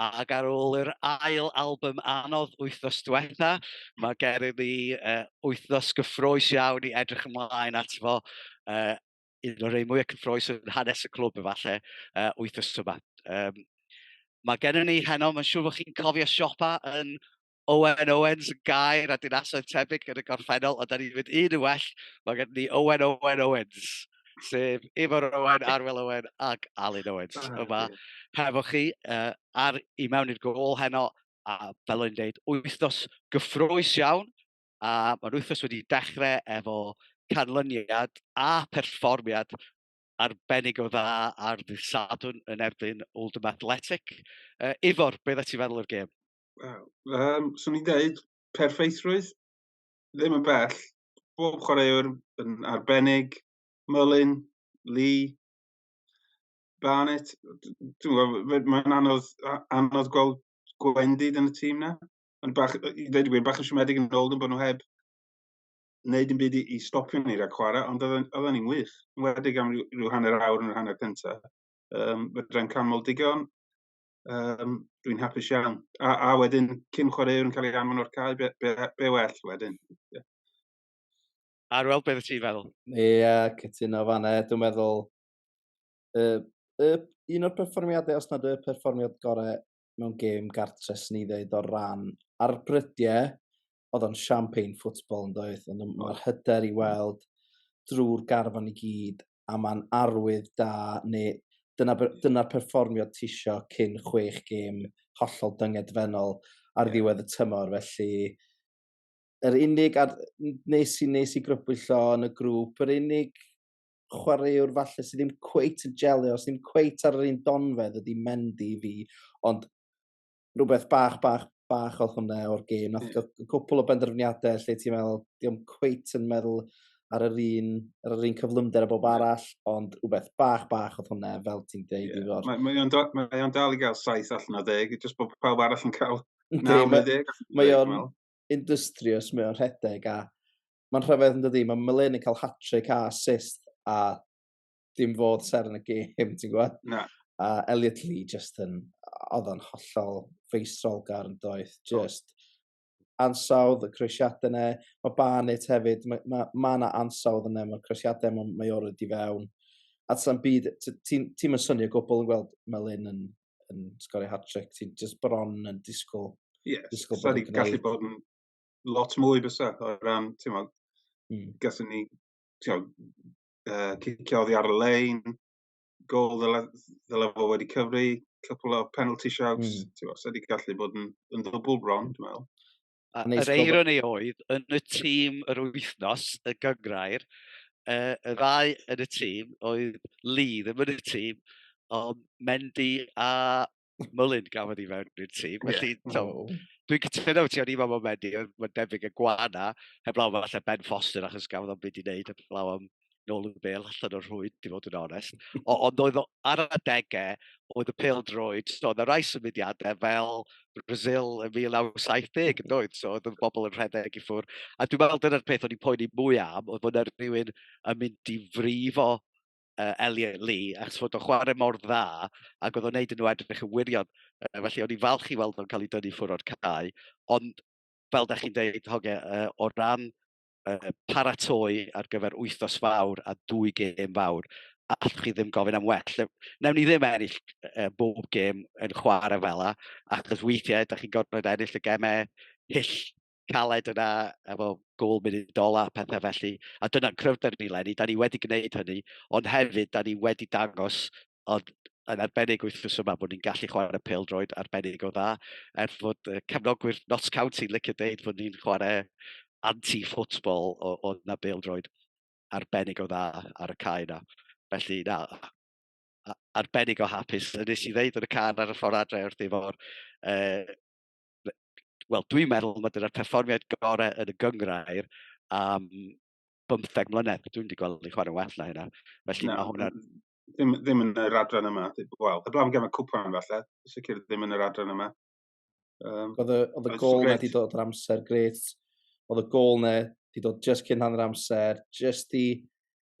ac ar ôl yr ail album anodd wythnos diwetha, mae gennym ni uh, wythnos gyffroes iawn i edrych ymlaen at fo. Uh, un o'r rei mwyaf cyffroes yn hanes y clwb efallai, uh, wythnos yma. Um, mae gennym ni heno, mae'n siŵr bod chi'n cofio siopa yn Owen Owens yn gair a dinasoedd tebyg yn y gorffennol, ond da ni'n mynd un yn well, mae gen ni Owen Owen Owens, sef Ifor Owen, Arwel Owen ac Alun Owens ah, yma hefo chi uh, ar i mewn i'r gol heno, a fel o'n i'n dweud, wythnos gyffroes iawn, a mae'n wythnos wedi dechrau efo canlyniad a perfformiad arbennig o dda ar ddydd Sadwn yn erbyn Oldham Athletic. Uh, Ifor, beth ydych ti'n feddwl o'r gêm? Wel, yym, 'swn i'n deud perffeithrwydd, ddim yn bell. Bob chwaraewr yn arbennig, Mullin, Lee, Barnett, d- dwi'n gwybod, fe- mae'n anodd a- anodd gweld gwendid yn y tîm 'na. Ond bach, yy, i ddeud y gwir, bach yn siomedig yn ôl nhw bod nhw heb wneud dim byd i i stopio ni rhag chwarae, ond oedden oedden ni'n wych, yn enwedig am ryw ryw hanner awr yn yr hanner cynta. Yym, fedrai'n canmol digon, Yym dwi'n hapus iawn. A, a wedyn cyn chwaraewr yn cael ei anfon o'r cae, be, be, be well wedyn? Yeah. Ar weld beth ti'n feddwl? Ie, yeah, cytuno fan e. Dwi'n meddwl uh, uh, un o'r perfformiadau, os nad y perfformiad gorau mewn gêm gartres ni ddeud o'r ran ar brydiau, oedd o'n champagne football yn doedd? Ond mae'r hyder i weld drwy'r garfan i gyd a mae'n arwydd da neu dyna, dyna perfformiad tisio cyn chwech gêm hollol dyngedfennol ar ddiwedd y tymor. Felly, yr unig, ar, nes i, nes i grybwyllo yn y grŵp, yr unig chwaraewr falle sydd ddim cweit yn jelio, sydd ddim cweit ar yr un donfedd ydy Mendy i fi, ond rhywbeth bach, bach, bach o hwnna o'r gêm. Nath yeah. gael cwpl o benderfyniadau lle ti'n meddwl, di o'm cweit yn meddwl ar yr un, ar yr un cyflymder a bob arall, ond rhywbeth bach, bach o hwnna, fel ti'n deud yeah. i fod. Mae, mae, o'n, mae o'n dal i gael saith allan o ddeg, jyst bod pawb arall yn cael naw neu ddeg. Mae o'n industrious, mae o'n rhedeg, a mae'n rhyfedd yn dydi, mae Melin yn cael hat-trick a assist, a dim fodd ser yn y gêm, ti'n gwybod? Na. A Elliot Lee just yn, oedd o'n hollol feistrolgar yn doeth, just ansawdd, y croesiadau yna, mae Barnett hefyd, mae ma, ma yna ansawdd yna, mae'r croesiadau yma, mae o'r wedi fewn. A ti'n byd, ti'n ti yn synio gwbl yn gweld Melin yn, yn sgorio hat-trick, ti'n just bron yn disgwyl. Ie, yeah, disgwyl bod yn gallu bod yn lot mwy fysa, o ran, ti'n meddwl, mm. gallwn ni, ti'n meddwl, uh, cicio oddi ar y lein, gol ddyle, ddyle fo wedi cyfri, cwpl o penalty shouts, mm. ti'n fawr, wedi gallu bod yn, yn ddwbl bron, dwi'n meddwl. A yr eironi oedd, yn y tîm yr wythnos, y gyngrair, uh, y ddau yn y tîm oedd Lee, ddim yn y tîm, ond Mendy a Mullin gafodd i fewn i'r tîm. Felly, yeah. so, oh. dwi'n cytuno ti o'n i fan o'n mendi, mae'n debyg y gwana, heblaw fel lle Ben Foster achos gafodd o'n byd i wneud, heblaw am nôl y bel allan o'r hwyd, di fod yn onest. O, ond oedd ar adegau, oedd y pil droed, so oedd y rai symudiadau fel Brazil yn 1970 yn doedd, so oedd y bobl yn rhedeg i ffwr. A dwi'n meddwl dyna'r peth o'n i'n poeni mwy am, oedd bod yna rhywun yn mynd i frifo uh, Elliot Lee, achos fod o'n chwarae mor dda, ac oedd o'n neud yn nhw edrych yn wirion. Uh, felly, o'n i'n falch i weld o'n cael ei dynnu ffwr o'r cae, ond fel da chi'n dweud, hoge, uh, o ran uh, paratoi ar gyfer wythnos fawr a dwy gêm fawr, allwch chi ddim gofyn am well. Newn ni ddim ennill uh, bob gêm yn chwarae fel la, achos weithiau, da chi'n gorfod ennill y gemau hyll caled yna, efo gol munud ola, pethau felly. A dyna cryfder ni, Lenny, da ni wedi gwneud hynny, ond hefyd da ni wedi dangos, ond yn arbennig wythnos yma, bod ni'n gallu chwarae pel droed arbennig o dda, er fod cefnogwyr Notts County licio deud bod ni'n chwarae anti-football o, o na bel droed arbennig o dda ar y cae yna. Felly, na, arbennig o hapus. Nes i ddeud yn y car ar y ffordd adre wrth efo'r uh, wel, dwi'n meddwl mae dyna'r perfformiad gorau yn y gyngrair am bymtheg mlynedd. Dwi'n wedi gweld i chwarae'n well na hynna. Felly no, mae hwnna... Ddim, ddim yn yr adran yma. Wel, y blaen gem y cwpan falle. Sicr ddim yn yr adran yma. Um, oedd y, gol na di dod yr amser, gret. Oedd y gol na di dod just cyn hanner amser, just i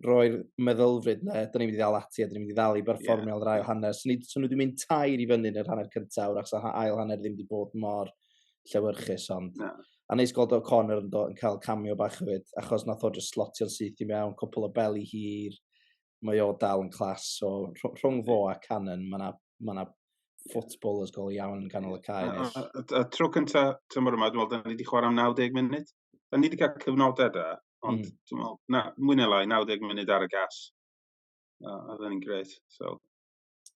roi'r meddylfryd na, da ni'n mynd i ddal ati a da ni'n mynd i ddal i berfformio yeah. rai o hanner. So, ni, so nhw wedi mynd tair i fyny yn yr hanner cyntaf, wrach sa ail hanner ddim wedi bod mor llewyrchus, ond... No. A neis gweld O'Connor yn, yn cael camio bach hefyd, achos nath o just slotio'n syth i mewn, cwpl o beli hir, mae o dal yn clas, so rhwng fo a Cannon, mae yna ma na footballers gol iawn yn canol y cae. A, a, a, a tro cyntaf tymor yma, dwi'n meddwl, da ni wedi chwarae am 90 munud. o'n ni wedi cael cyfnodau da, ond mm. dwi'n meddwl, na, mwy neu lai, 90 munud ar y gas. A oedd yn gret. So,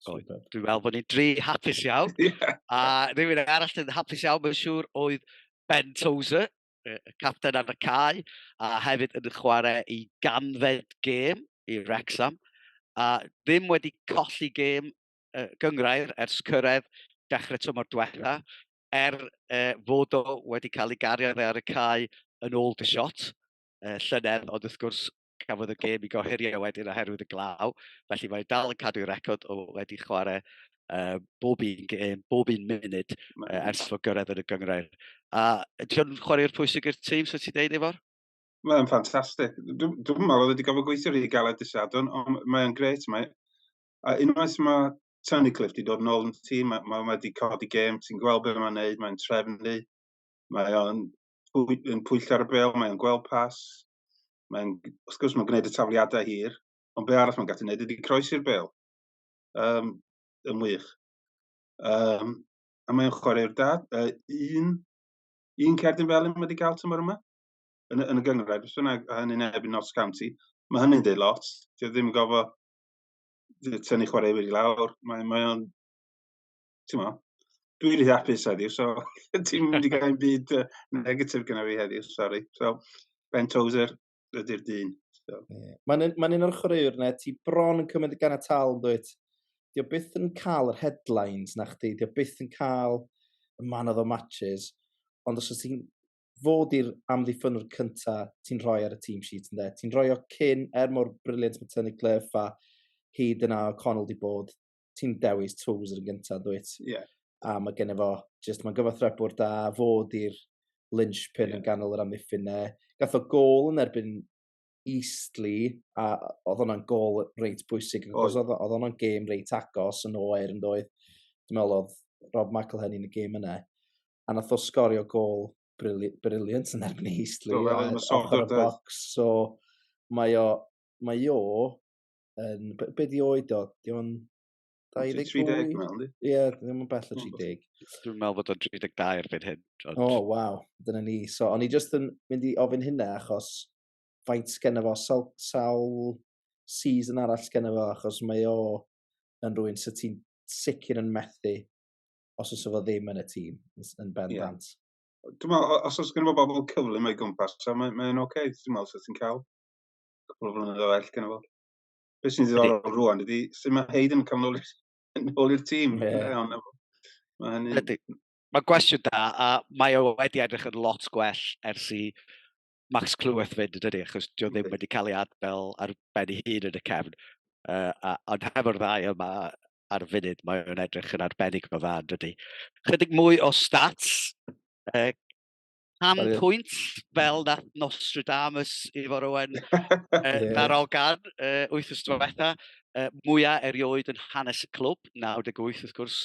So, dwi'n meddwl bod ni'n dri hapus iawn. yeah. A rhywun arall yn hapus iawn, mae'n siŵr, oedd Ben Tozer, y capten ar y cae, a hefyd yn chwarae i ganfed gêm i Wrexham. A ddim wedi colli gêm uh, gyngrair ers cyrraedd dechrau tymor diwetha. er uh, fod o wedi cael ei gario ar y cae yn ôl dy shot uh, llynedd, ond wrth gwrs cafodd y gêm i gohirio wedyn oherwydd y glaw, felly mae'n dal yn cadw'i record o wedi chwarae uh, bob un gêm, bob un munud uh, ers fod gyrraedd yn y gyngrair. A ti'n chwarae'r pwysig i'r tîm, so ti'n deud efo'r? Mae'n ffantastig. Dwi'n meddwl oedd wedi gofio gweithio rhy galed dy sadwn, ond mae'n gret. Mae, a unwaith mae Tony Cliff di dod yn ôl yn ti, mae ma, ma wedi codi gêm, ti'n gweld beth mae'n neud, mae'n trefnu, mae o'n pwy, yn pwyll ar y bel, mae o'n gweld pas, mae'n, wrth gwrs mae'n gwneud y tafliadau hir, ond be arall mae'n gallu gwneud ydy croesi'r bel, um, yn wych. Um, a mae'n chwarae'r da, uh, un, un cerdyn fel yn wedi cael tymor yma, yn, yn y gyngrair, beth bynnag, a hynny'n ebyn Notts County, mae hynny'n dweud lot, dwi ddim yn gofio tynnu chwarae wedi lawr. Mae, mae o'n, ti'n mo, dwi'n rhy hapus heddiw, so ti'n mynd i gael ein byd uh, negatif gyda fi heddiw, sori. So, Ben Tozer ydy'r dyn. So. Yeah. Mae'n ma un o'r chwaraewr yna, ti bron yn cymryd y gan y tal yn dweud. Dio byth yn cael yr headlines na chdi, dio byth yn cael y man of the matches, ond os ydych ti'n fo 'di'r amddiffynnwr cynta ti'n rhoi ar y team sheet ynde? Ti'n rhoi o cyn er mor brilliant ma' Tony Cliff a hyd yn a O'Connell 'di bod ti'n dewis Toes yn gynta dwyt? Ie. Yeah. A mae gen fo jyst mae'n gyfathrebwr da fo 'di'r linchpin yeah. yn ganol yr amddiffyn 'ne. Gath o gol yn erbyn Eastleigh a oedd hwnna'n gol reit bwysig achos oedd oedd hwnna'n gêm reit agos yn oer yndoedd. Dwi'n meddwl oedd Rob McElhenney yn y gêm yna. a nath o sgorio gol brilliant yn erbyn Eastleigh. Do, fel yn y soccer box. So, mae o, mae o, yn, be, be di oed o? Di o'n 23 mewn, di? Ie, ddim yn bell o 30. Dwi'n meddwl bod o'n 32 erbyn hyn. O, oh, waw, dyna ni. So, o'n i just yn mynd i ofyn hynna achos faint sgen fo sawl, sawl season arall sgen fo achos mae o yn rwy'n sy'n ti'n sicr yn methu os oes efo ddim yn y tîm yn bendant. Yeah. Dwi'n meddwl, os oes gen i bobl cyflym o'i gwmpas, so mae'n mae oce, okay. dwi'n meddwl sut ti'n cael cwpl o flynyddoedd o ell gen i fo. Beth sy'n ddiddorol rwan, ydy, sy'n mae Heid yn cael nôl i'r tîm. Mae hynny... Mae gwestiwn da, a mae o wedi edrych yn lot gwell ers i Max Clyweth fynd yn dydy, achos dio ddim wedi cael ei adfel ar ben ei hun yn y cefn. Uh, a, ond hefo'r ddau yma, ar y funud, mae o'n edrych yn arbennig o dda, dydy. Chydig mwy o stats, uh, am pwynt fel na Nostradamus i fod rwan uh, na'r ogan uh, wyth ystod diwetha, uh, mwyaf erioed yn hanes y clwb, 98 wrth gwrs,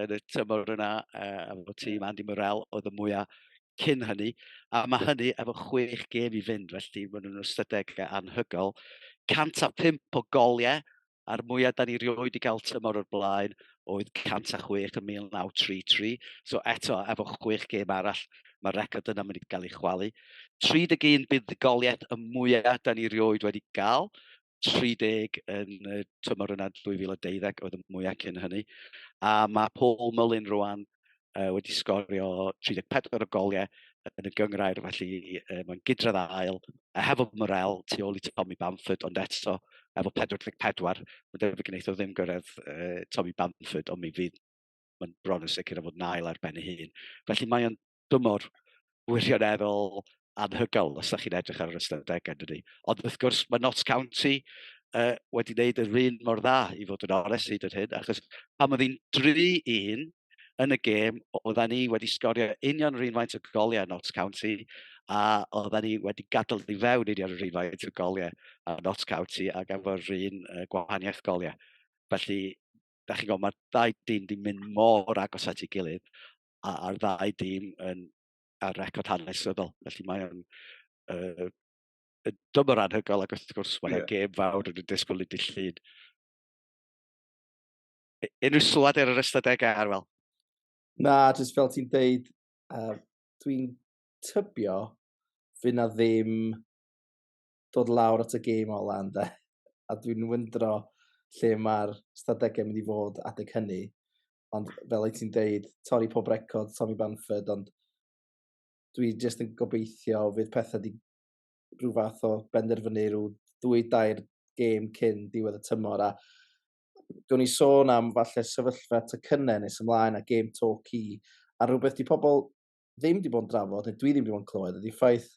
yn y tymor yna, uh, a fod tîm Andy Morel oedd y mwyaf cyn hynny, a mae hynny efo chwech gêm i fynd, felly maen nhw'n ystadegau anhygol. 105 o goliau, a'r mwyaf da ni rioed wedi cael tymor o'r blaen oedd 106 yn 1933. So eto, efo chwech gêm arall, mae'r record yna mynd i gael ei chwalu. 31 buddugoliaeth y mwyaf da ni rioed wedi gael, 30 yn y tymor yna 2012 oedd y mwyaf cyn hynny. A mae Paul Mullin rwan uh, wedi sgorio 34 o goliau yn y gyngrair, felly uh, mae'n gydredd ail, a hefo Morel tu ôl i Tommy Bamford, ond eto efo 44, mae'n debyg gwneud o ddim gyrraedd uh, Tommy Bamford, ond mi fydd mae'n bron yn sicr o fod nail ar ben ei hun. Felly mae'n dymor wirioneddol anhygoel os ydych chi'n edrych ar yr ystadegau, yn dydy. Ond wrth gwrs, mae Notts County uh, wedi wneud yr un mor dda i fod yn onest hyd yr hyn, achos pan oedd hi'n 3-1 yn y gêm, oedden ni wedi sgorio union yr un faint o goliau Notts County, a oedden ni wedi gadael i fewn union yr un faint o goliau a Notts County a gafodd yr un uh, gwahaniaeth goliau. Felly, da chi'n gwybod, mae'r dau dyn wedi mynd mor agos at ei gilydd, a'r ddau dîm yn ar record hanesyddol. Felly mae o'n uh, dymor anhygol ac wrth gwrs mae'n yeah. gêm fawr yn y disgwyl i dillun. Unrhyw sylwad ar yr ystadegau ar fel? Na, jyst fel ti'n deud, uh, dwi'n tybio fy na ddim dod lawr at y gêm o lan, de. A dwi'n wyndro lle mae'r stadegau mynd i fod adeg hynny. Ond fel wyt ti'n deud, torri pob record, Tommy Bamford, ond dwi jyst yn gobeithio fydd pethau di rhyw fath o benderfynu rhyw ddwy dair gêm cyn diwedd y tymor a gwn i sôn am falle sefyllfa cynnen nes ymlaen a gêm to ci a rhywbeth di pobl ddim wedi bod yn drafod, neu dwi ddim wedi bod yn clywed, ydy ffaith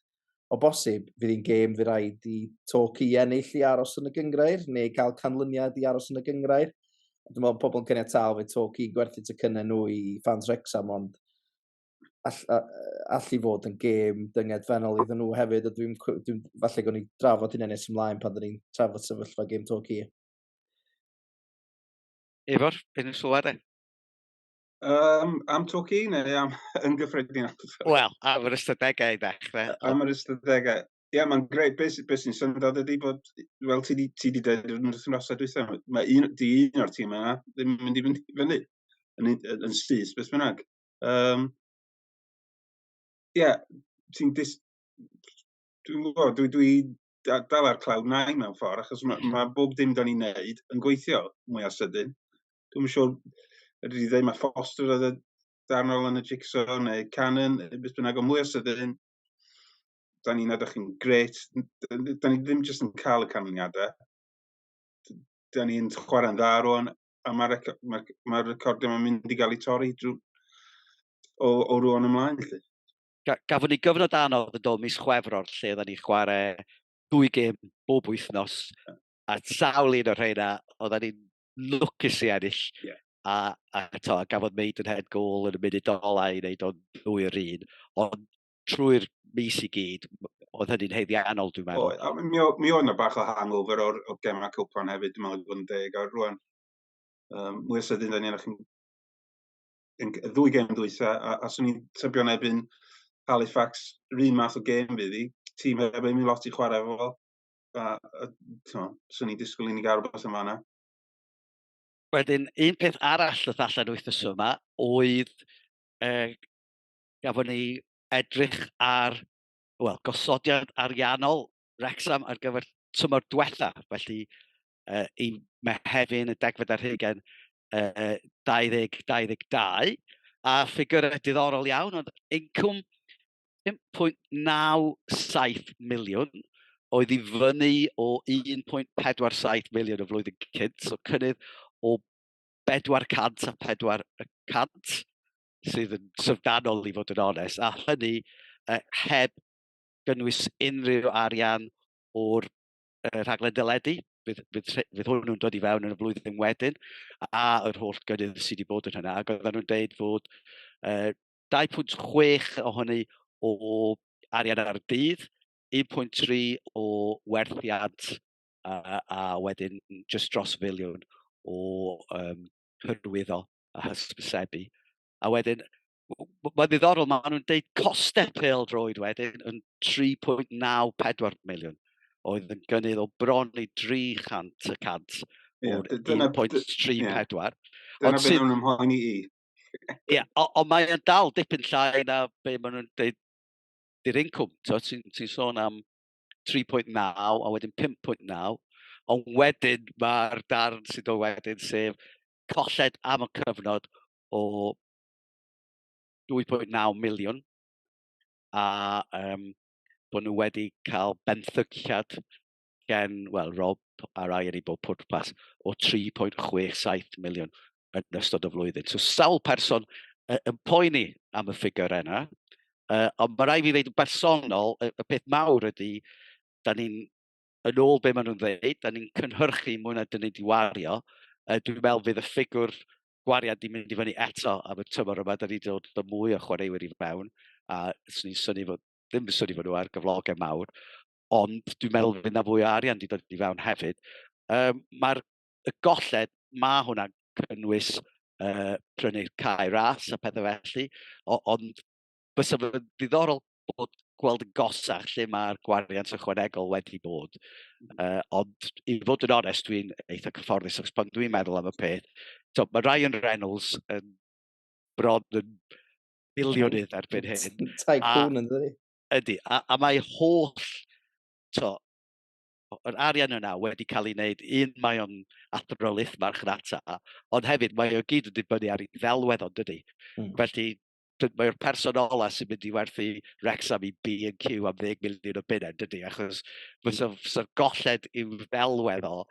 o bosib fydd hi'n gêm fi rhaid i Torquay i ennill i aros yn y gyngrair, neu cael canlyniad i aros yn y gyngrair. Dwi'n meddwl pobl yn caniatau fe Torquay i gwerthu ty cynnau nhw i fans Rexham, ond all, all i fod yn gêm dynged fennol iddyn nhw hefyd, a dwi'n, dwi'n falle gwni drafod hynny'n nes ymlaen pan dyn ni'n trafod sefyllfa gêm Torquay. Efo'r, beth yn sylwad e? Yym am tro ci neu am yn gyffredin? Wel, am yr ystadegau i ddechrau. Am yr ystadegau. Ie, yeah, mae'n greu. Beth be sy'n syndod ydy bod, fel ti wedi dweud yn yr wythnosau diwethaf, mae un, di un o'r tîm yna ddim yn mynd i fynd i fyny yn, yn, yn syth, beth bynnag. Um, Ie, yeah, ti'n dis... Dwi'n gwybod, dwi, dwi, dal ar cloud nine mewn ffordd, achos mae, mm. mae bob dim da ni'n neud yn gweithio mwy a sydyn. Dwi'n siŵr, ydw i ddweud, mae Foster oedd y darnol yn y jigsaw, neu Canon, beth bynnag, o mwy a sydyn, da ni'n edrych yn gret, da ni ddim jyst yn cael y canlyniadau, da ni'n chwarae'n dda rwan, a mae'r rec ma, ma recordiau mae'n mynd i gael ei torri drwy, o, o rwan ymlaen. Felly. ga, gafon ni gyfnod anodd yn dod mis chwefror lle oedden ni chwarae dwy gym bob wythnos a sawl un o'r rheina oedden ni'n lwcus i ennill. Yeah. A, a, to, a gafodd meid yn head goal yn y munud olau i wneud o'n ddwy o'r un. Ond trwy'r mis i gyd, oedd hynny'n heiddiannol, dwi'n meddwl. Oedd, a mi, o, mi oedd yna bach o hangover o'r, o'r gemau cwpan hefyd, dwi'n meddwl bod yn deg, a rwan, um, mwy o sydyn, da ni'n chi'n yn y ddwy gêm dwysa, a, a swn i'n tybio yn ebyn Halifax, rhywun math o gêm fydd hi. Tîm heb ei mi lot i chwarae fo. A, a swn i'n disgwyl i ni gael rhywbeth yn fanna. Wedyn, un peth arall ddoth allan wythnos yma oedd e, gafon ni edrych ar wel, gosodiad ariannol Wrexham ar gyfer tymor diwetha. Felly, uh, i Mehefin y degfed ar hugen uh, 2022, a ffigurau diddorol iawn, ond incwm 5.97 miliwn oedd i fyny o 1.47 miliwn y flwyddyn cynt, so cynnydd o 400 a 400 sydd yn syfdanol i fod yn onest, a hynny uh, heb gynnwys unrhyw arian o'r y rhaglen deledu, bydd, bydd, bydd hwn nhw'n dod i fewn yn y flwyddyn wedyn, a yr holl gynnydd sydd wedi bod yn hynna, ac oedden nhw'n dweud fod uh, 2.6 ohoni o arian ar y dydd, 1.3 o werthiant a, a wedyn just dros filiwn o um, hyrwyddo a hysbysebu. A wedyn, Mae'n ddiddorol, maen nhw'n deud costau pel droed wedyn yn 3.94 miliwn oedd yn gynnydd o bron i 300 y cant o'r 1.34. Dyna beth nhw'n ymhoen i i. Ie, ond mae'n dal dipyn llai na be maen nhw'n dweud di'r incwm. Ti'n ti sôn am 3.9 a wedyn 5.9, ond wedyn mae'r darn sydd o wedyn sef colled am y cyfnod o 2.9 miliwn a um, bod nhw wedi cael benthyciad gen, wel, Rob a'r air i bob pwrpas o 3.67 miliwn yn ystod y flwyddyn. So sawl person uh, yn poeni am y ffigur yna, uh, ond mae rai fi ddeud yn bersonol, y, y peth mawr ydy, da ni'n, yn ôl be maen nhw'n ddeud, da ni'n cynhyrchu mwy na dyn ni wedi wario, uh, dwi'n meddwl fydd y ffigur gwariad di mynd i fyny eto am y tymor yma, da ni wedi dod o mwy o chwaraewyr i fewn, a swn i'n syni fod, ddim yn syni fod nhw ar gyflogau mawr, ond dwi'n meddwl fydd na fwy o arian wedi dod i fewn hefyd. Um, Mae'r golled, mae hwnna'n cynnwys uh, prynu'r cae ras a pethau felly, ond bysa fo'n ddiddorol bod gweld yn gosach lle mae'r gwariant ychwanegol wedi bod. Uh, ond i fod yn onest, dwi'n eitha cyfforddus achos pan dwi'n meddwl am y peth, so, mae Ryan Reynolds yn bron yn milionydd erbyn hyn. Tycoon yn dweud. Ydy, a, a mae holl, to, yr arian yna wedi cael ei wneud, un mae o'n athrolith marchnata, ond hefyd mae o gyd yn dibynnu ar ei ddelwedd ond dydy. Mm. Felly, mae'r person ola sy'n mynd i werthu Rexham i B&Q am 10 miliwn o bunnau, dydy, achos fysa, fysa golled i'w ddelwedd o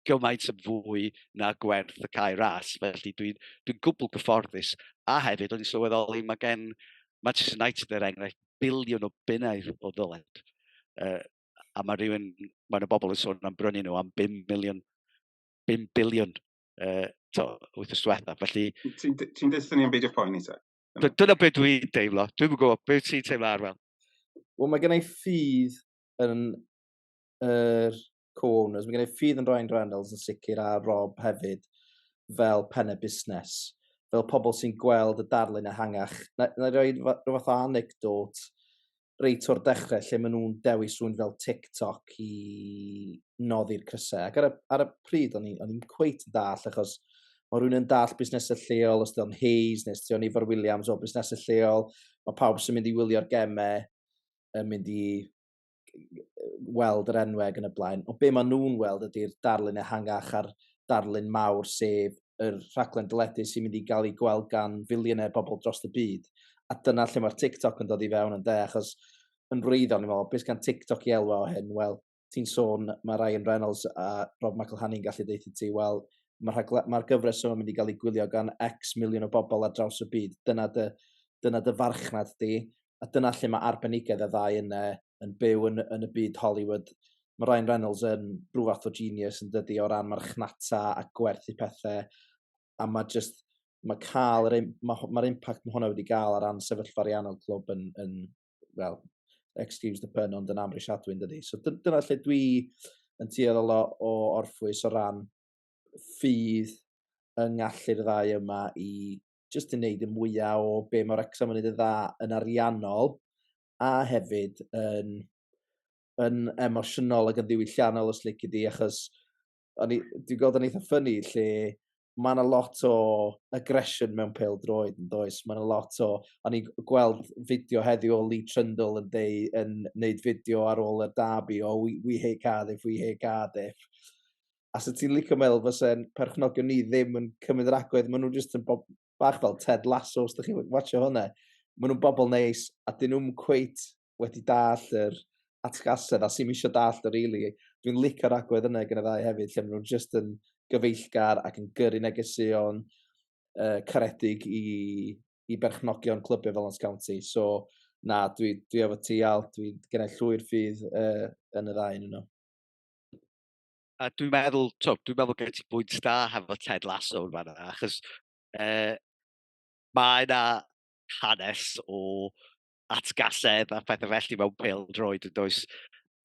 gymaint yn fwy na gwerth y cae ras. Felly dwi'n dwi gwbl gyfforddus. A hefyd, o'n i'n sylweddoli, mae gen Manchester United er enghraifft biliwn o bunnau o ddyled. Uh, a mae rhywun, mae yna bobl yn sôn am brynu nhw am 5 miliwn, 5 biliwn uh, to, wythnos diwetha. Felly... Ti'n ti dweud ni'n beidio poeni ta? Dyna beth dwi'n deimlo. Dwi'n gwybod beth ti'n teimlo ar fel. Wel, mae gennau ffydd yn yr er co-owners. Mae gennau ffydd yn Ryan Reynolds yn sicr a Rob hefyd fel penne busnes, fel pobl sy'n gweld y darlun ehangach. Na, na roi rhywbeth o anecdot. reit o'r dechrau lle maen nhw'n dewis rhywun fel TikTok i noddi'r crysau. Ac ar y, ar y pryd, o'n i'n cweit yn dall, achos mae rhywun yn dall busnesau lleol, os diolch Hayes neu os diolch Ifar Williams o busnesau lleol, mae pawb sy'n mynd i wylio'r gemau yn mynd i weld yr enweg yn y blaen. O be maen nhw'n weld ydy'r darlun ehangach a'r darlun mawr, sef yr rhaglen deledu sy'n mynd i gael ei gweld gan filiynau bobl dros y byd. A dyna lle mae'r TikTok yn dod i fewn yn de, achos yn wreiddiol, ni'n meddwl, beth gan TikTok i elwa o hyn? Wel, ti'n sôn, mae Ryan Reynolds a Rob McElhenney'n gallu deutha ti, wel, mae'r ma gyfres yma'n mynd i gael ei gwylio gan X miliwn o bobl ar draws y byd. Dyna dy, dyna dy farchnad di. a dyna lle mae arbenigedd y ddau yna yn byw yn, yn y byd Hollywood. Mae Ryan Reynolds yn rhyw fath o genius yn dydy o ran marchnata a gwerthu pethau a mae just mae cael yr mae'r ma impact mae hwnna wedi gael ar ran sefyllfa ariannol clwb yn, yn well, excuse the pun, ond yn amrisiadwy yn dydy. So dyna lle dwi yn tueddol o, o orffwys o ran ffydd yng ngallu'r ddau yma i jyst yn neud y mwya o be' ma' Wrecsam yn neud yn dda yn ariannol a hefyd yn yn emosiynol ag yn ddiwylliannol os lici di achos o'n i dwi gweld o'n eitha ffyni lle ma' 'na lot o aggression mewn pêl-droed yndoes ma' 'na lot o o'n i'n g- gweld fideo heddiw o Lee Trundle yn deu- yn neud fideo ar ôl y derby o we we hate Cardiff we hate Cardiff. a sa ti'n licio meddwl fysa'n perchnogion ni ddim yn cymryd yr agwedd, maen nhw'n jyst yn bob bach fel Ted Lasso, os da chi'n watcho hwnna. Maen nhw'n bobl neis, a dyn nhw'n cweit wedi dall yr atgasedd, a sy'n misio dall yr really. Dwi'n licio'r agwedd yna gen y ddau hefyd, lle maen nhw'n jyst yn gyfeillgar ac yn gyrru negeseuon uh, caredig i, i berchnogion clybiau fel Notts County. So, na, dwi, dwi efo ti al, dwi'n gennau llwy'r ffydd uh, yn y ddau yn yno. a dwi'n meddwl, to, dwi'n meddwl gen ti bwynt da hefo Ted Lasso yn fanna, achos uh, mae yna hanes o atgasedd a phethau felly mewn pel droed yn does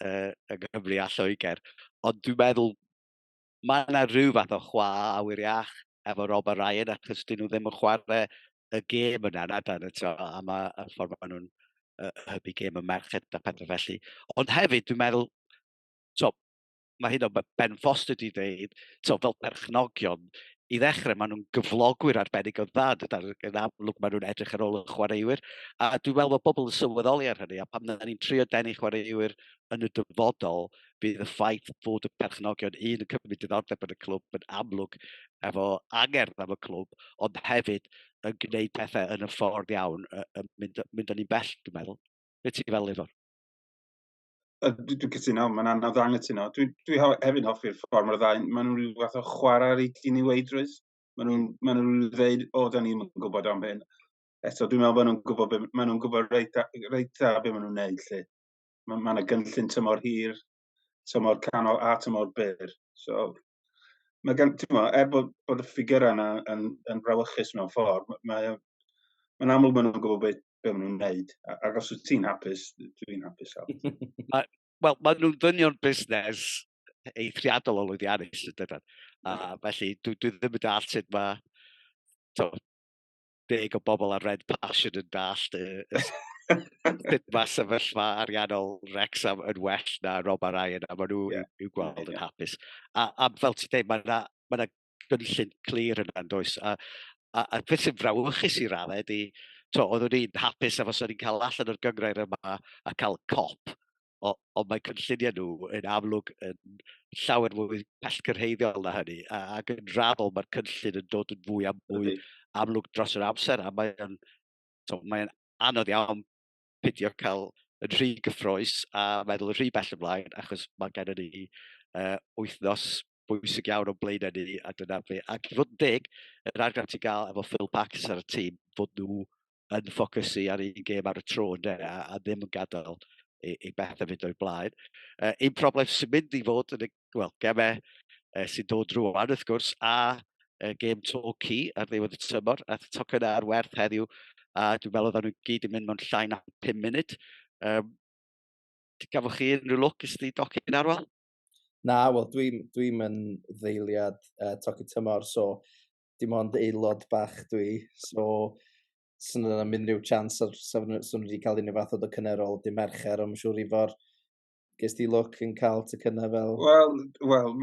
uh, yng Nghymru a Lloegr. Ond dwi'n meddwl, mae yna rhyw fath o chwa awyr iach efo Rob a Ryan, achos dyn nhw ddim yn chwarae y gêm yna, na dan y to, a mae y ffordd maen nhw'n uh, hybu gêm y merched a pethau felly. Ond hefyd, dwi'n meddwl, to, mae hyn o Ben Foster wedi dweud, so, fel perchnogion, i ddechrau, maen nhw'n gyflogwyr arbennig o dda, dyda'r yn amlwg maen nhw'n edrych ar ôl y chwaraewyr, a dwi'n meddwl bod pobl yn sylweddoli ar hynny, a pam na ni'n trio denu chwaraewyr yn y dyfodol, bydd y ffaith bod y perchnogion un yn cymryd diddordeb yn y clwb yn amlwg efo angerdd am y clwb, ond hefyd yn gwneud pethau yn y ffordd iawn, yn mynd, mynd o'n i'n bell, dwi'n meddwl. Beth ti'n fel, Ifon? Dwi'n dwi cytuno, mae'n anodd anghytuno. Dwi, dwi hefyd hoffi'r ffordd mae'r ddau, maen nhw'n rhyw fath o chwarae ar ei dyn i weidrwydd. Maen nhw'n ma nhw dweud, o, da ni'n gwybod am hyn. Eto, dwi'n meddwl bod nhw'n gwybod, maen nhw'n gwybod reit, reit dda beth maen nhw'n neud lle. Mae yna gynllun tymor hir, tymor canol a tymor byr. So, mae gan, ti'n mo, er bod, bod y ffigurau yna yn, yn brawychus mewn ffordd, mae, mae'n amlwg maen nhw'n gwybod beth, beth maen nhw'n wneud. Ac os wyt ti'n hapus, dwi'n hapus. Wel, maen nhw'n ddynion busnes eithriadol o lwyddiannus, ydyn nhw. A felly, dwi, dwi ddim yn dall sut mae... To, deg o bobl ar Red Passion yn dallt y, y sut mae sefyllfa ariannol Rexham yn well na Rob a Ryan, a maen nhw yeah. i'w gweld yeah. yn hapus. A, a fel ti'n dweud, mae yna ma gynllun clir yna yn does. A, a, a beth sy'n frawychus i raddau ydy, to, oeddwn i'n hapus efo sy'n ni'n cael allan o'r gyngrair yma a cael cop o, ond mae cynlluniau nhw yn amlwg yn llawer mwy pellgyrhaeddiol na hynny, ac yn raddol mae'r cynllun yn dod yn fwy a mwy amlwg dros yr amser, a mae'n mae anodd iawn pidio cael yn rhy gyffroes a meddwl yn rhy bell ymlaen, achos mae gen i ni uh, wythnos bwysig iawn o'n blaen ni, a dyna fe. Ac i fod yn deg, yr argraff ti'n gael efo Phil Pax ar y tîm, fod nhw yn ffocysu ar un gêm ar y tro ynde, a, a ddim yn gadael i, i bethau fynd o'i blaen. Uh, un problem sy'n mynd i fod yn y well, gemau uh, sy'n dod rwan wrth gwrs, a uh, gêm Torquay ar ddiwedd y tymor, a tocyn ar werth heddiw, a dwi'n meddwl oedden nhw gyd yn mynd mewn llai na 5 munud. Um, gafwch chi unrhyw lwc ys di docyn arwel? Na, wel, dwi'n dwi, dwi yn ddeiliad uh, Toki Tymor, so dim ond aelod bach dwi, so swn yna mynd rhyw chance ar swn swn wedi cael unrhyw fath o dy cynerol dy mercher, ond siŵr i fod ges di look yn cael ty cynna fel... Wel, wel,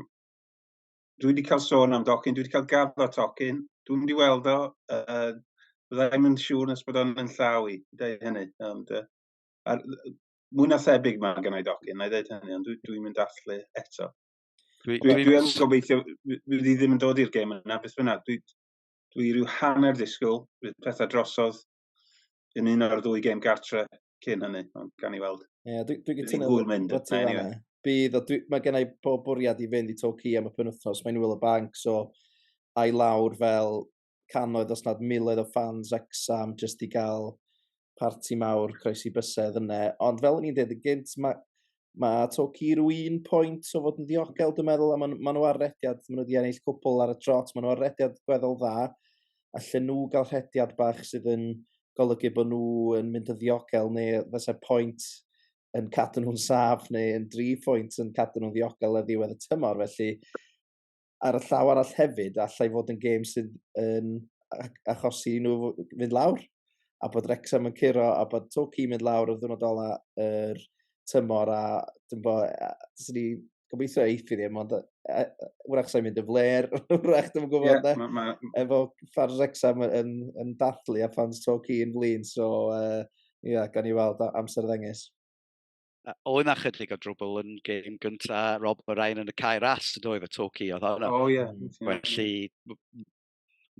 dwi wedi cael sôn am docyn, dwi wedi cael gaf o tocyn, dwi'n mynd i weld o, uh, byddai'n yn siŵr nes bod o'n yn llaw i, dweud hynny, ond uh, ar, mwy na thebyg mae gennau docyn, na i ddeud hynny, ond dwi'n dwi mynd allu eto. Dwi, dwi, dwi yn gobeithio, dwi ddim yn dod i'r gêm yna, beth bynnag. Dwi, dwi rhyw hanner ddisgwyl, bydd pethau drosodd yn un o'r ddwy gêm gartre cyn hynny, ond gan i weld. Ie, yeah, dwi, dwi gytuno bod mynd. Anyway. Bydd, o, dwi, mae gennau bob bwriad i fynd i Torquay am y penwthnos, mae'n wyl y banc, so a'i lawr fel cannoedd os nad miloedd o ffans Wrexham jyst i gael parti mawr croesi bysedd yna. Ond fel o'n i'n dweud y gynt, mae ma Toki rhyw un pwynt o fod yn ddiogel, dwi'n meddwl, a maen ma nhw ar rediad, maen nhw wedi ennill cwpl ar y trot, maen nhw ar rediad gweddol dda, a lle nhw gael rhediad bach sydd yn golygu bod nhw yn mynd yn ddiogel, neu fysa pwynt yn cadw nhw'n saf, neu yn dri pwynt yn cadw nhw'n ddiogel a ddiwedd y tymor, felly ar y llaw arall hefyd, allai fod yn gêm sydd yn achosi nhw fynd lawr, a bod Rexham yn curo, a bod Toki mynd lawr o'r ddwrnod ola yr er tymor, a dwi'n bod, sy'n ni gobeithio eithi ddim, ond wrach sa'n mynd y fler, wrach dwi'n gwybod yeah, ma, ma... efo ffordd Rexham yn, yn, yn dathlu a ffordd Toki yn flin, so uh, yeah, gan i weld amser ddengys. oedd na chydig o drwbl yn gêm gynta Rob Ryan yn y cae ras yn oedd y to ci oedd hwnna. O ie. Felly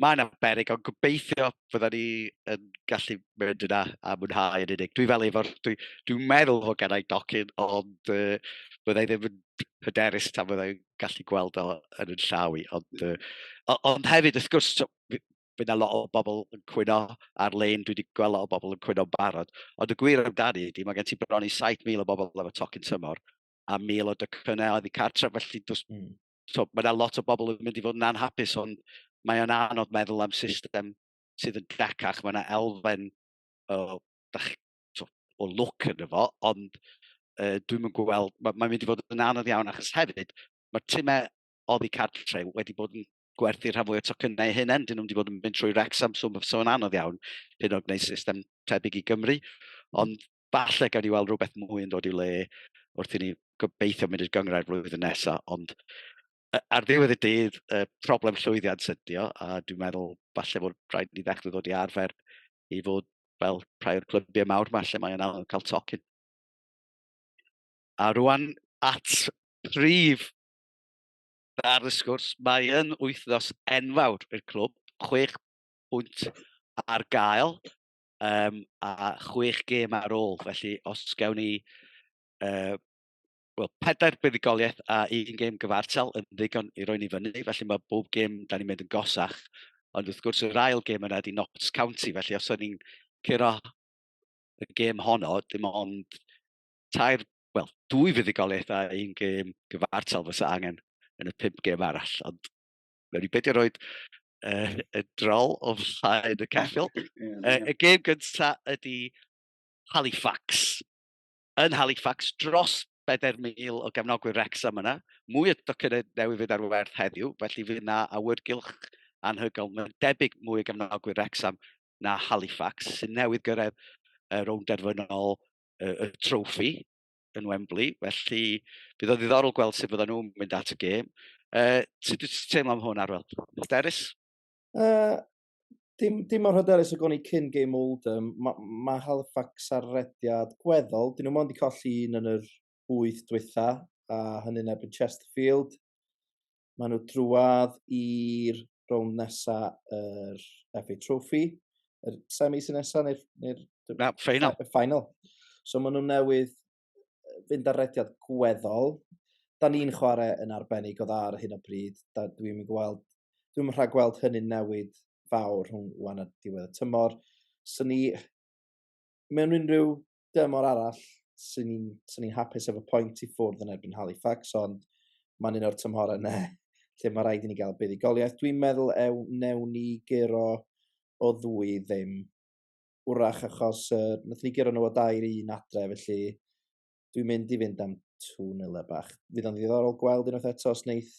mae yna berig ond gobeithio fydda ni yn gallu mynd yna a mwynhau yn unig. Dwi fel efo'r, dwi'n dwi meddwl fod gennau docyn ond uh, byddai ddim yn hyderus tan byddai'n gallu gweld o yn yn llaw i. Ond, uh, ond hefyd, wrth gwrs, bydd yna lot o bobl yn cwyno ar-lein, dwi wedi gweld lot o bobl yn cwyno'n barod. Ond y gwir amdani ydy, mae gen ti bron i 7,000 o bobl efo tocyn tymor a 1,000 o dycynnau oedd i cartref, felly dos, mm. so, mae yna lot o bobl yn mynd i fod yn anhapus, ond mae o'n anodd meddwl am system sydd yn gacach. Mae yna elfen o, so, o look yn efo, ond uh, dwi'n mynd gweld, mae'n mae mynd i fod yn anodd iawn achos hefyd, mae'r timau oddi cartre wedi bod yn gwerthu rhan fwy o tocynnau eu hunain. Dyn nhw'n wedi bod yn mynd trwy Rex am swm so yn anodd iawn hyn o gwneud system tebyg i Gymru. Ond falle gawn ni weld rhywbeth mwy yn dod i'w le wrth i ni gobeithio mynd i'r gyngrau flwyddyn nesaf. Ond ar ddiwedd y dydd, y problem llwyddiant sydio, a dwi'n meddwl falle bod rhaid ni ddechrau ddod i arfer i fod fel rhai o'r clybiau mawr yma lle mae'n anodd cael tocyn. A rwan at prif ar y sgwrs, mae yn wythnos enfawr i'r clwb, chwech pwynt ar gael um, a chwech gêm ar ôl, felly os gawn ni uh, well, pedair buddigoliaeth a un gêm gyfartal yn ddigon i roi ni fyny, felly mae bob gêm da ni'n mynd yn gosach, ond wrth gwrs yr ail gêm yna di Notts County, felly os o'n ni'n curo y gêm honno, dim ond tair wel, dwy fuddugoliaeth a un gêm gyfartal fysa angen yn y pum gêm arall. Ond mewn ni beidio roed uh, y drol o flaen y ceffil. Uh, y gêm gyntaf ydy Halifax. Yn Halifax, dros 4,000 o gefnogwyr Wrexham yna. Mwy o docynnau newydd fydd ar werth heddiw, felly fydd yna awyrgylch anhygol. Mae'n debyg mwy o gefnogwyr Wrexham na Halifax, sy'n newydd gyrraedd y rownd derfynol y, y trofi yn Wembley, felly bydd o ddiddorol gweld sut fydden nhw'n mynd at y gêm. Uh, sut wyt ti'n teimlo am hwn, Arwel? Hyderus? Uh, dim, dim mor hyderus o goni cyn gêm Oldham. Mae ma Halifax ar rediad gweddol. Dyn nhw mond i colli un yn yr wyth dwytha, a hynny'n ebyn Chesterfield. Maen nhw drwad i'r rownd nesa yr FA Trophy, yr semi sy'n nesa neu'r... Neu Na, final. Y final. So maen nhw newydd fynd ar rediad gweddol. Da ni'n chwarae yn arbennig o dda ar hyn o bryd. Dwi'n gweld, dwi'n rhaid gweld hynny'n newid fawr rhwng wan a diwedd y tymor. So ni, mewn unrhyw dymor arall, sy'n ni'n so ni hapus efo pwynt i ffwrdd yn erbyn Halifax, ond mae'n un o'r tymhor yna lle mae rhaid i ni gael buddigoliaeth. Dwi'n meddwl ew, newn ni gero o ddwy ddim. Wrach achos uh, nath ni gero nhw o dair un adre, felly dwi'n mynd i fynd am 2-0 e bach. Fydd o'n ddiddorol gweld unwaith eto os wneith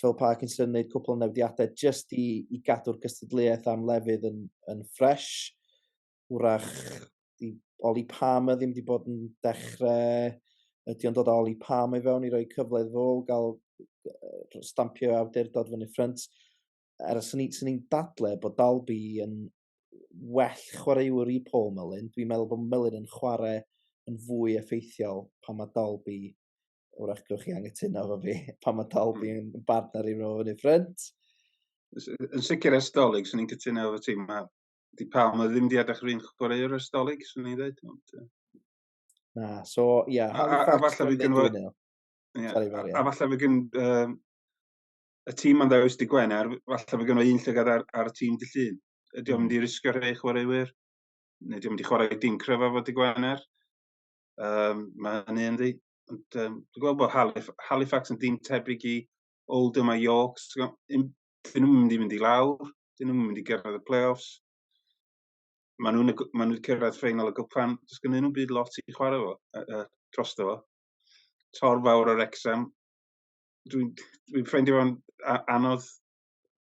Phil Parkinson yn gwneud cwpl o newidiadau jyst i, i gadw'r gystadleuaeth am lefydd yn, yn ffres. wrach i Oli Palmer ddim wedi bod yn dechrau, ydy o'n dod o Oli Palmer i fewn i roi cyfle iddo fo gael stampio awdurdod fyny ffrynt. Er sy'n ni'n dadle bod Dalby yn well chwaraewyr i Paul Mullin, dwi'n meddwl bod Mullin yn chwarae yn fwy effeithiol pan mae Dalby, wrach gywch chi angytuno fo fi, pan mae Dalby yn bartner i fo fyny ffrynt. Yn sicr estolig, sy'n ni'n cytuno efo ti, mae di pawb mae ddim di edrych yr un chwaraewr ers dolyg, swn i'n dweud. Ond, uh... Na, so, ie. Yeah, a, a, a falle fi gynnu... Yeah, a falle fi gyn... Um, y tîm ma'n ddewis di Gwener, falle fi gynnu un llygad ar, ar y tîm di llun. Ydy o'n hmm. mynd i risgio rhai chwaraewyr? Neu ydy o'n mynd i chwarae dim cryfa fod di Gwener? Um, mae hynny yn di. Ond um, dwi'n gweld bod Halifax yn dim tebyg i Oldham a York. dyn nhw'n mynd i fynd i lawr, dyn nhw'n mynd i gyrraedd y play-offs. Maen nhw'n ma nhw cyrraedd ffeinal y gwpan, does gen nhw'n byd lot i chwarae fo, uh, uh, dros fo. Tor fawr o'r exam. Dwi'n dwi ffeindio fo'n anodd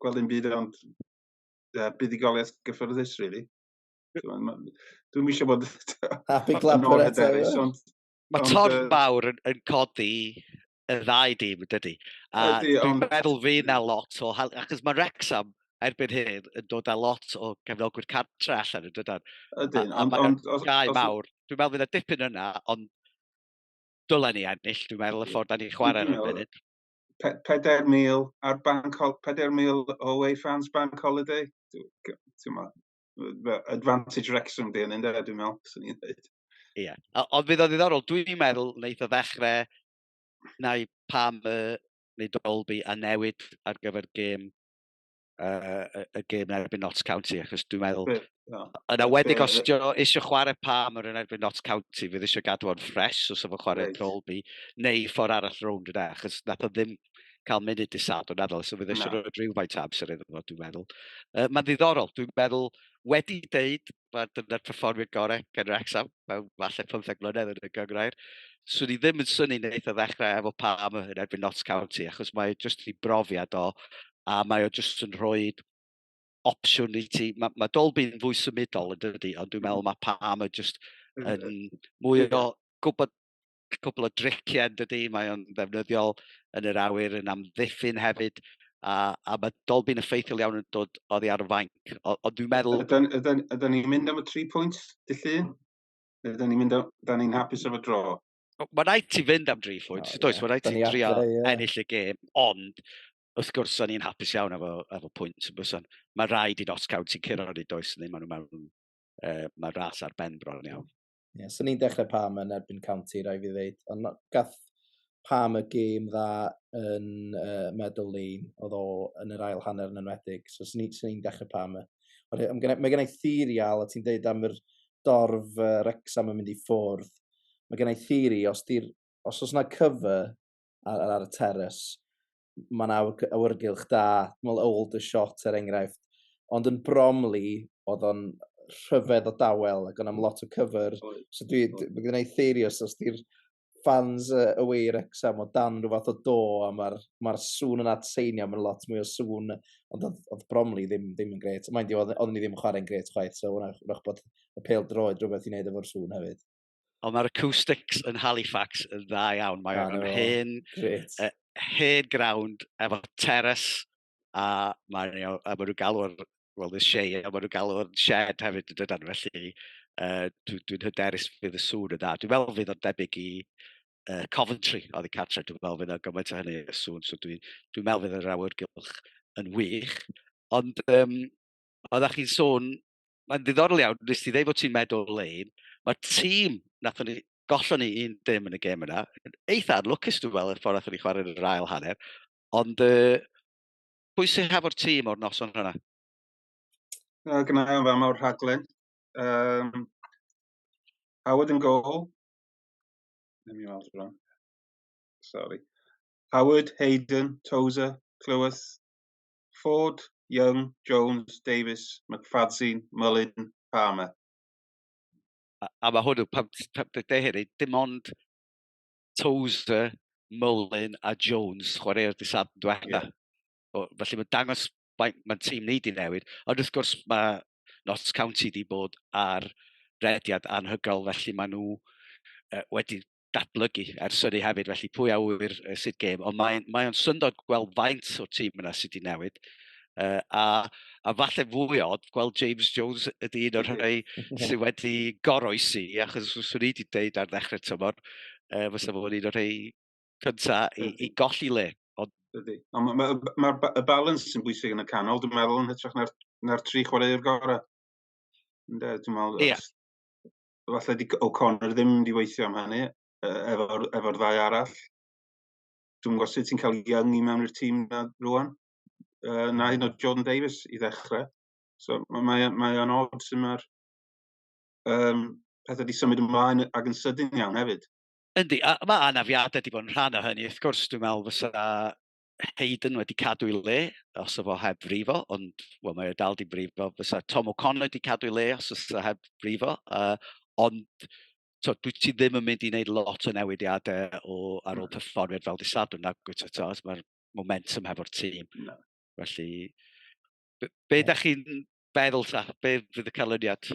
gweld yn byd ond uh, buddigoliaeth gyffyrddus, really. Dwi'n misio bod... Happy clapper eto. Mae torn fawr yn, yn codi y ddau dîm, dydy. A ydy, dwi'n ond... meddwl fi na lot o... Achos mae Rexham erbyn hyn yn dod â lot o gefnogwyr cartre allan yn dydan. Ydyn, ond... A mae'r gau mawr. Dwi'n meddwl fydd y dipyn yna, ond dylen ni ennill, dwi'n meddwl, y ffordd da ni'n chwarae yn y munud. 4,000 ar bank, 4,000 away fans bank holiday. Ti'n advantage Wrexham di yn un dweud, dwi'n meddwl, sy'n ni'n dweud. Ie, yeah. ond fydd o ddiddorol, dwi'n meddwl wneud o ddechrau neu pam y neu Dolby a newid ar gyfer gêm uh, y gêm erbyn Notts County, achos dwi'n meddwl, yn awedig os ti'n eisiau chwarae pam yr yn erbyn Notts County, fydd eisiau gadw o'n ffres os efo chwarae right. Dolby, neu ffordd arall rownd yna, achos nath o ddim cael munud i sad o'n adol, so fydd eisiau no. rhoi rhywfaint amser iddo fo, dwi'n meddwl. Uh, Mae'n ddiddorol, dwi'n meddwl, wedi deud, mae dyna'r performiad gorau gen Rexham, mewn falle 15 mlynedd yn y gyngrair. Swn i ddim yn syni wneud o ddechrau efo Palm yn erbyn Notts County, achos mae jyst i brofiad o, a mae o jyst yn rhoi opsiwn i ti. Mae, mae Dolby'n fwy symudol yn dydy, ond dwi'n meddwl mae Palm yn jyst yn mwy o gwybod cwpl o driciau yn dydy, mae o'n ddefnyddiol yn yr awyr, yn amddiffyn hefyd, a, a mae Dolby'n effeithiol iawn yn dod oddi ar y fainc. Ond dwi'n meddwl... Ydyn ni'n mynd am y tri pwynt, dy llun? Ydyn ni'n mynd am... Da ni'n hapus efo dro? Mae rhaid ti fynd am dri phwynt, oh, does? Yeah. Mae rhaid ti drio ennill y gêm, ond wrth gwrs, o'n i'n hapus iawn efo, efo pwynt yn byson. Mae rhaid i'n osgawd sy'n curo ni, does? Neu maen nhw mewn... Uh, mae ras ar ben bron iawn. Ie, so ni'n dechrau Pam yn erbyn County, rai fi ddeud. Ond gath Pam y gêm dda yn uh, Meadow Lane, oedd o yn yr ail hanner yn enwedig. So, sy'n ni'n ni dechrau Pam y. Mae gen i theori al, a ti'n deud am yr dorf uh, Rexham yn mynd i ffwrdd. Mae gen i theori, os, os oes yna cyfer ar, ar y terrace, mae'n awyrgylch da. Mae'n old a shot er enghraifft. Ond yn Bromley, oedd o'n rhyfedd o dawel ac o'n am lot o cyfer. So dwi, mae gen i theirios os di'r fans uh, away i'r exam o dan rhyw fath o do a mae'r ma sŵn yn atseinio, mae'n lot mwy o sŵn, ond oedd, oedd Bromley ddim, ddim yn gret. Mae'n di, oedd ni ddim yn chwarae'n gret chwaith, so wnaeth bod y pel droed rhywbeth i wneud efo'r sŵn hefyd. Ond mae'r acoustics yn Halifax yn dda iawn. Mae o'n hen, uh, hen ground efo terrace a mae nhw, a maen nhw galw'r, well, the shea, a maen nhw galw'r shed hefyd yn dydan. Felly, uh, dwi'n dwi hyderus fydd y sŵn yn dda. Dwi'n meddwl fydd o'n debyg i uh, Coventry oedd i Catra. Dwi'n meddwl fydd o'n gymaint o hynny y sŵn. So dwi'n dwi meddwl fydd yr awyrgylch yn wych. Ond um, oeddech chi'n sôn mae'n ddiddorol iawn, nes ti ddeud bod ti'n meddwl lein, mae'r tîm, nathon ni, gollon ni un dim yn y gêm yna, eitha anlwcus dwi'n meddwl, y ffordd nathon ni chwarae yr ail hanner, ond uh, pwy sy'n hafo'r tîm o'r noson hwnna? Uh, Gna i ofyn o'r rhaglen. Um, Howard yn gol. Ddim i weld rhan. Sorry. Howard, Hayden, Tozer, Clywys, Ford, Young, Jones, Davies, McFadzean, Mullin, Palmer. A, a mae hwnnw, pan ti'n deher i, dim ond Tozer, Mullin a Jones chwarae'r disad yn diwetha. Yeah. Felly mae'n dangos mae'n tîm ni di newid. Ond wrth gwrs mae Notts County di bod ar rediad anhygoel, felly maen nhw uh, wedi datblygu ers hynny hefyd, felly pwy a wyr uh, sut gêm, ond mae'n mae o'n syndod gweld faint o'r tîm yna sydd wedi newid. Uh, a, a falle fwy odd gweld James Jones ydy un o'r rhai sydd wedi goroesi, achos os o'n i wedi dweud ar ddechrau tymor, uh, fysa fo'n un o'r rhai cynta i, i golli le. Ond... Ydy. Ond mae'r ma, ma, ma, y balans sy'n bwysig yn y canol, dwi'n meddwl, yn hytrach na'r, na tri chwaraewr gorau. Dwi'n meddwl, yeah. falle di O'Connor ddim wedi weithio am hynny efo'r efo ddau arall. Dwi'n gwybod sut ti'n cael Young i mewn i'r tîm na rwan. Uh, na hyn o Jordan Davis i ddechrau. So mae mae o'n od sy'n mae'r um, pethau wedi symud ymlaen ag yn sydyn iawn hefyd. Yndi, a mae anafiadau wedi bod yn rhan o hynny. Wrth gwrs, dwi'n meddwl fysa Hayden wedi cadw i le, os o fo heb frifo, ond well, mae dal di frifo. Fysa Tom O'Connor wedi cadw i le os oes o heb frifo. Uh, ond to, dwi ti ddim yn mynd i wneud lot o newidiadau o, ar ôl hmm. perfformiad fel disadwn na gwyd to, mae'r momentum hefo'r tîm. No. Felly, be, be da chi'n feddwl ta? Be fydd y canlyniad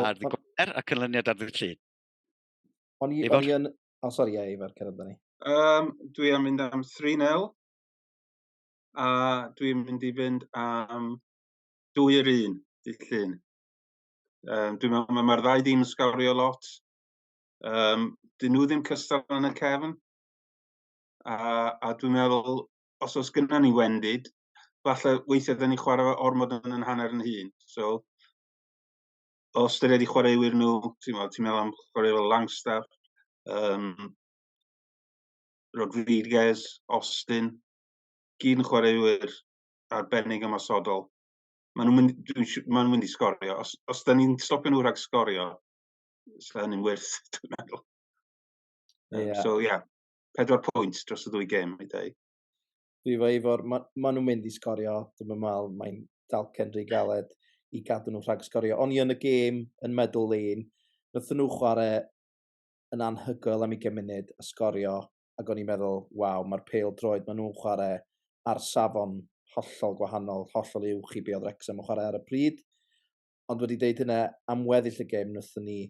ar ddi gwaer a canlyniad ar ddi llun? O'n i, o'n i yn, O, oh, sori, ie, Ivar, cyrraedd da ni. Um, dwi am mynd am 3-0. A dwi'n mynd i fynd am 2-1 i llun. Um, dwi'n meddwl mae mae'r ddau ddim yn sgawrio lot. Um, dyn nhw ddim cystal yn y cefn. A, a dwi'n meddwl, os oes gyda ni wendid, falle weithiau dyn ni chwarae ormod yn yn hanner yn hun. So, o ystyried i chwaraewyr nhw, ti'n meddwl, ti'n meddwl am chwarae fel Langstaff, um, Rodriguez, Austin, gyd yn chwaraewyr arbennig ymosodol. Maen nhw'n mynd, maen nhw'n mynd i sgorio. Os, os da ni'n stopio nhw rhag sgorio, sy'n hynny'n wyrth, dwi'n meddwl. Um, yeah. So, ie, yeah, pedwar pwynt dros y ddwy gêm, i dweud. Dwi fo efo'r... Mae ma nhw'n mynd i sgorio, dwi'n mynd mal, mae'n dalcen rhy galed i gadw nhw rhag sgorio. O'n i yn y gêm yn meddwl lein, nath nhw chwarae yn anhygoel am i munud a sgorio, ac o'n i'n meddwl, waw, mae'r peil droed maen nhw'n chwarae ar safon hollol gwahanol, hollol uwch i be oedd Wrexham yn chwarae ar y pryd. Ond wedi deud hynna, am weddill y gêm, nath ni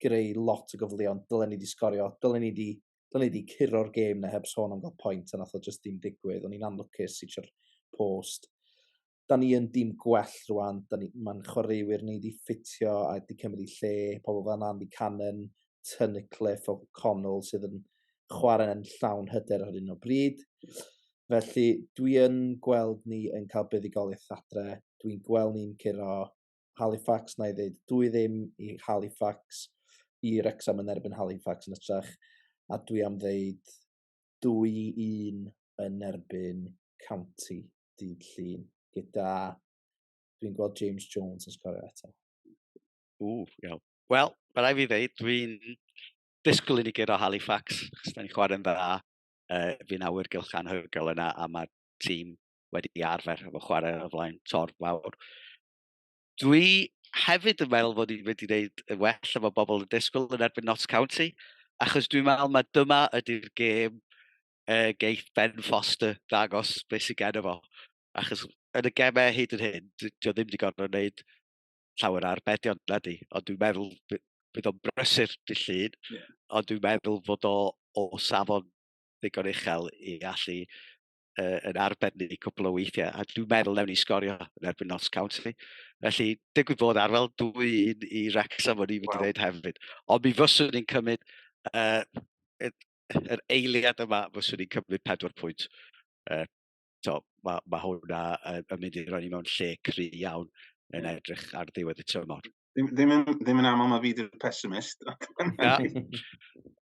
greu lot o gyfleon dylen ni 'di sgorio dylen ni 'di dylen ni 'di curo'r gêm 'na heb sôn am ga'l point a nath o jyst dim digwydd o'n i'n anlwcus i trio post. 'Da ni yn dim gwell rŵan 'da ni ma'n chwaraewyr ni 'di ffitio a 'di cymryd 'u lle pobol fel Andy Cannon, Tunnicliffe, O'Connell sydd yn chware'n llawn hyder ar hyn o bryd. Felly dwi yn gweld ni yn ca'l buddugoliaeth adre dwi'n gweld ni'n curo Halifax, na i ddeud dwy ddim i Halifax, i Rexham yn erbyn Halifax yn ytrach, a dwi am ddeud dwy i un yn erbyn County dydd llun, gyda dwi'n gweld James Jones yn sgorio eto. Ww, iawn. Wel, mae rai fi ddeud, dwi'n disgwyl i ni gyd o Halifax, chos da ni'n chwarae'n dda, uh, fi'n awyr gylch anhygol yna, a mae tîm wedi arfer efo chwarae o flaen torf fawr. Dwi hefyd yn meddwl fod ni'n mynd i wneud yn well efo bobl yn disgwyl yn erbyn Notts County, achos dwi'n meddwl mae dyma ydy'r gêm uh, geith Ben Foster ddangos beth sy'n gen efo. Achos yn y gemau hyd yn hyn, dwi ddim wedi gorfod wneud llawer ar bedion na di, ond dwi'n meddwl bydd o'n brysur dy llun, yeah. ond dwi'n meddwl fod o o safon ddigon uchel i allu uh, yn arbennig cwbl o weithiau, a dwi'n meddwl newn ni sgorio yn erbyn Notts County. Felly, digwydd bod ar fel dwy un i Wrexham o'n i'n mynd i ddweud hefyd. Ond mi fyswn ni'n cymryd uh, yr eiliad yma, fyswn ni'n cymryd pedwar pwynt. Uh, so, mae ma hwnna yn, yn mynd i roi ni mewn lle cry iawn yn edrych ar ddiwedd y tymor. Ddim, ddim, yn, ddim yn aml mae fi di'r pessimist. Na.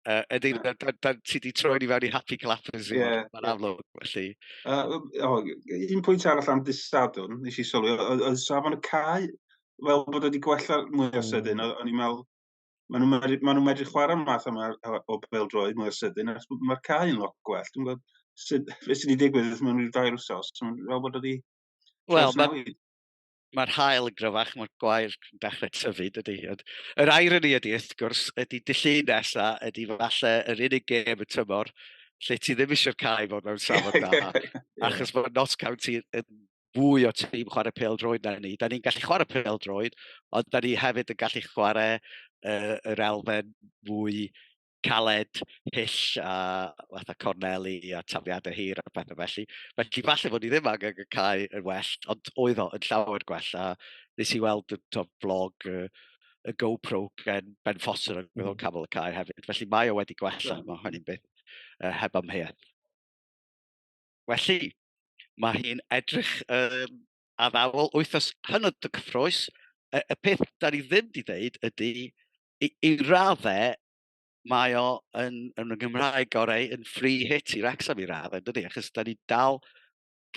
Uh, Ydy, da, da, da, ti wedi troi ni fewn i happy clappers i yeah. Mae'n amlwg, felly. Uh, oh, un pwynt arall am disadwn, nes i sylwi, oedd safon y cae, fel bod wedi gwella mwy o sydyn, mm. o'n i'n meddwl, maen nhw'n medru, ma nhw medru chwarae math yma o beldroed mwy o sydyn, ac mae'r cae yn lot gwell. Dwi'n gwybod, beth sydd wedi digwydd mewn rhyw dair wsos, fel bod wedi... Wel, mae mae'r hael yn gryfach, mae'r gwair yn dechrau tyfu, dydy. Ond yr irony ydy, wrth gwrs, ydy dillu nesa, ydy falle yr unig gêm y tymor lle ti ddim eisiau'r cae fod mewn safon da, achos bod Notts County yn fwy o tîm chwarae pel droed na ni. Da ni'n gallu chwarae pel droed, ond da ni hefyd yn gallu chwarae uh, yr elfen fwy caled, hyll a fatha corneli a tafliadau hir a pethau felly. Felly falle bod ni ddim angen y cae yn well, ond oedd o yn llawer gwell. A nes i weld y to, vlog y, y GoPro gen Ben Foster yn mm. cael y cae hefyd. Felly mae o wedi gwella, mae hynny'n beth uh, heb amheuaeth. Felly, mae hi'n edrych um, addawol wythnos hynod y cyffroes. Y, y peth da ni ddim wedi dweud ydy i, i raddau, mae o yn, yn y Gymraeg gorau yn free hit i Wrexham i radd, yn dydy, achos da ni dal,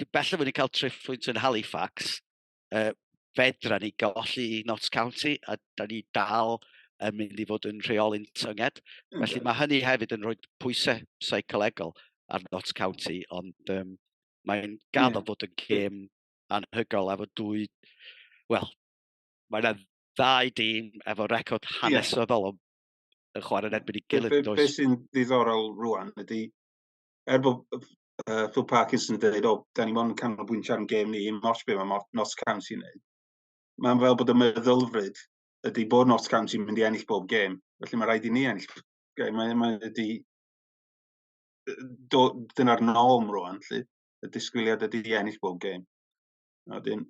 bellaf wedi cael triffwynt yn Halifax, uh, fedra ni golli i Notts County, a da ni dal yn mynd i fod yn rheoli'n tynged. Mm. Felly mae hynny hefyd yn rhoi pwysau seicolegol ar Notts County, ond um, mae'n gaddo yeah. bod yn gêm anhygol efo dwy... Wel, mae'n ddau dîm efo record hanesyddol yeah. yn chwarae yn erbyn i gilydd. Be, be, be sy'n ddiddorol rwan ydy, er bod uh, Phil Parkinson yn dweud, o, da ni mo'n canolbwyntio ar yn gêm ni, mor sbio mae Notts County yn gwneud. Mae'n fel bod y meddylfryd ydy bod Notts County yn mynd i ennill bob gêm. Felly mae rhaid i ni ennill. Mae, mae ydy, dyna'r norm rwan, lle. Y disgwyliad ydy ennill bob gêm. A wedyn,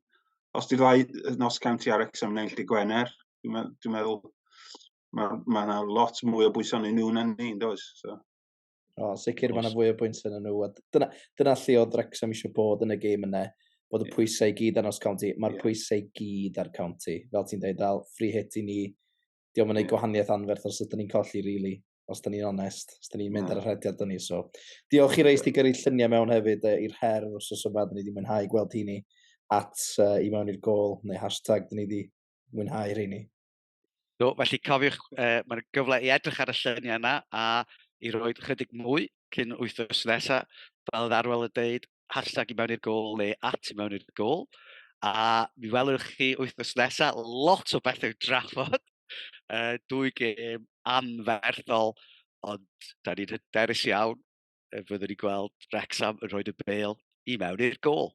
os ti'n rhoi nos cam ti ar exam neu lle Gwener, dwi'n meddwl mae yna ma, ma lot mwy o bwysau yn nhw na ni, yn does? So. O, sicr mae yna fwy o bwysau yn nhw. Dyna, dyna lle oedd Wrexham eisiau bod yn y gêm yna, bod y pwysau i gyd ar nos county. Mae'r yeah. pwysau i gyd ar county. Fel ti'n dweud, dal free hit i ni. Diolch yn ei gwahaniaeth anferth os ydyn ni'n colli, really. os da ni'n onest, os da ni'n mynd ar y rhediad dyn ni. So, diolch i reis ti gyrru lluniau mewn hefyd uh, i'r her os oes yma, da ni wedi mwynhau gweld hini at uh, i mewn i'r gol, neu hashtag da ni wedi mwynhau rheini. Do, felly cofiwch, uh, mae'n gyfle i edrych ar y lluniau yna a i roi chydig mwy cyn wythnos nesaf, fel ddarwel y deud, hashtag i mewn i'r gol neu at i mewn i'r gol. A mi welwch chi wythnos nesaf lot o bethau drafod. Uh, dwy gêm anferthol, ond da ni'n hyderus iawn y byddwn ni'n gweld Wrexham yn rhoi y bel i mewn i'r gol.